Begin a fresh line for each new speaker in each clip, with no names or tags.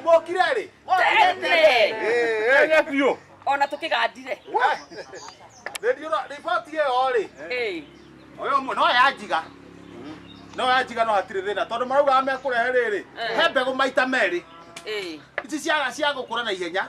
Mwokire rĩ? Tene
biũ. Ona tũkĩgandire.
Rĩndiũ riboti ĩyo rĩ? Ĩĩ. Oyo mwe no yanjiga. No yanjiga no hatirĩ thĩna tondũ maraugaga mekũrehe rĩrĩ. He mbegũ maita merĩ. Ĩĩ. Ici cia cia gũkũra na ihenya.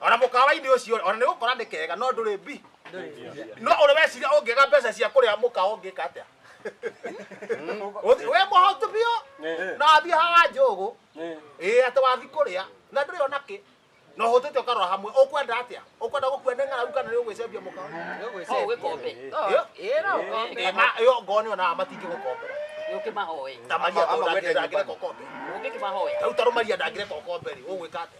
ona mukawa-ini ucio ona ni gukora ni kega no nduri bi no uri weciria ungiga mbeca cia kuria mukawa ungika atia we muhotu bio na athie haha njugu ii ati wathi kuria na nduri ona ki no hutite ukarora hamwe ukwenda atia ukwenda gukua ni ng'aragu kana ni ugwicembia mukawa Hau gĩkombe.
Ĩyo. Ĩra
ũkombe. Ema, yo ngoni ona matingi gukombera Nĩũkĩmahoe.
tamaria Ama- ama ndangire wende ndangire
nyumbani. kokombe Ũngĩkĩmahoya. tau
tarumaria ndangire
kokombe ri ugwika atia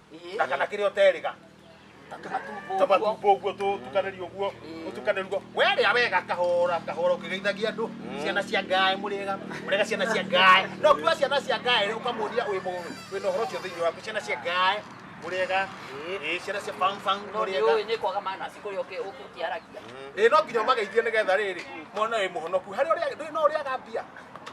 na kana kĩrĩa ũteriga tũmatumbo ũguo tũtukanĩrio ũguo tũtukanĩrio werĩa wega kahora kahora ũkĩgeithagia andũ ciana cia ngaĩ mũrĩega mũrĩega ciana cia ngaĩ no kuga ciana cia ngaĩ rĩ ũkamũria wĩ mũĩ wĩna ũhoro ũcio thĩinĩ waku ciana cia ngaĩ mũrĩega ĩ ciana cia bangfang no nĩ mũrĩega ũĩ nĩ kwaga manaci
kũrĩa ũkĩ- ũkĩ- ũkĩaragia ĩ no nginya
ũmageithie nĩgetha rĩrĩ mwana wĩ mũhonoku harĩ ũrĩa ndũrĩ no ũrĩaga mbia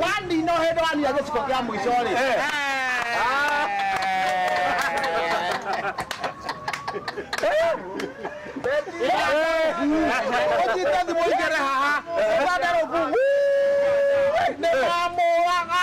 Wandina ũhĩndĩ waninya gĩciko kĩa mũico-rĩ. Ũnyite thimũ igere haha. Ũbande rũku. Nĩndamũraga.